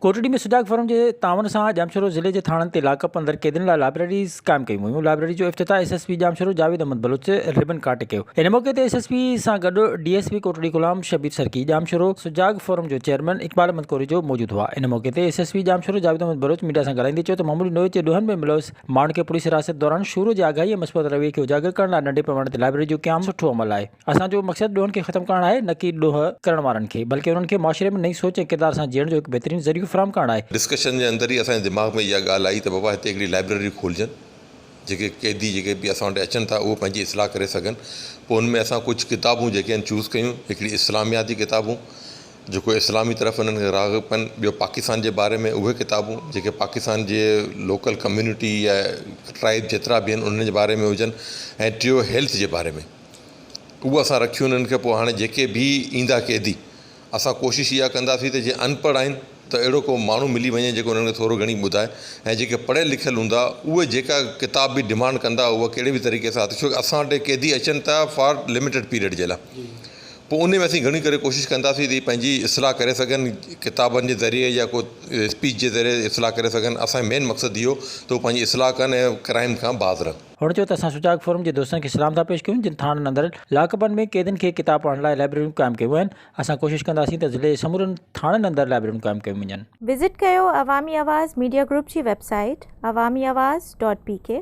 Kotri ۾ Sujag forum جي تعاون سان ڄامشورو ضلعي جي ٿاڻن تي لاڪ اپ اندر قيدين لاء لائبريريز قائم ڪيون ويون لائبريري جو افتتاح S S P Jamshoro Javed Ahmed Baloch ribbon ڪاٽي ڪيو ان موقعي تي ايس ايس پي سان گڏ D S P Kotri Ghulam Shabbir Sarki Jamshoro Sujag forum جو چيئرمين اقبال احمد ڪوريجو موجود هئا ان موقعي تي S S P Jamshoro Javed Ahmed Baloch media سان ڳالهائيندي چيو ته معمولي نوعيت جي ڏوهن ۾ ملوث ماڻهن کي پوليس حراست دوران شورو جي آگاهي ۽ مثبت رويي کي اجاگر ڪرڻ لاء ننڍي پيماني تي لائبريري جو قيام سٺو عمل آهي اسان جو مقصد ڏوهن کي ختم ڪرڻ آهي نه ڪي ڏوهه ڪرڻ وارن کي بلڪه انهن کي معاشري ۾ نئين سوچ ۽ ڪردار سان جيئڻ جو هڪ بهترين ذريعو فراهم ڪرڻ آهي. ڊسڪشن جي اندر ئي اسان جي دماغ ۾ اها ڳالهه آئي ته بابا هتي هڪڙي لائبريري کولجن جيڪي قيدي جيڪي به اسان وٽ اچن ٿا اهو پنهنجي اصلاح ڪري سگهن پوء ان ۾ اسان ڪجهه ڪتابون جيڪي آهن چوز ڪيون هڪڙي اسلامياتي ڪتابون جيڪو اسلامي طرف انهن کي راغب ڪن ٻيو پاڪستان جي باري ۾ اهي ڪتابون جيڪي پاڪستان جي لوڪل ڪميونٽي يا ٽرائب جيترا به آهن انهن جي باري ۾ هجن ۽ ٽيو هيلٿ جي باري ۾. اهو اسان رکيون انهن کي پوء هاڻي جيڪي به ايندا قيدي اسان ڪوشش اها ڪنداسين ته جي ان پڙهه آهن ته اهڙو ڪو ماڻهو ملي وڃي جيڪو انهن کي ٿورو گهڻي ٻڌائي ۽ جيڪي پڙهيل لکيل هوندا اهي جيڪا ڪتاب به ڊمانڊ ڪندا اها ڪهڙي به طريقي سان آتي ڇوڪ اسان وٽ قيدي اچن ته فار لميٽيڊ پيريڊ جي لاء پوء ان ۾ اسين گهڻي ڪري ڪوشش ڪنداسين ته پنهنجي اصلاح ڪري سگهن ڪتابن جي ذريعي يا ڪو اسپيچ جي ذريعي اصلاح ڪري سگهن اسان جو مين مقصد اهو ته هو پنهنجي اصلاح ڪن ۽ ڪرائيم کان باز رهن. هن چيو ته اسان سجاڳ فورم جي دوستن کي سلام ٿا پيش ڪيون جن ٿاڻن اندر لاڪ اپن ۾ قيدين کي ڪتاب پڙهڻ لاء لائبريريون قائم ڪيون آهن اسان ڪوشش ڪنداسين ته ضلعي جي سمورن ٿاڻن اندر لائبريريون قائم ڪيون وڃن. وزٽ ڪيو عوامي آواز ميڊيا گروپ جي website Awami Awaz dot P ڪي.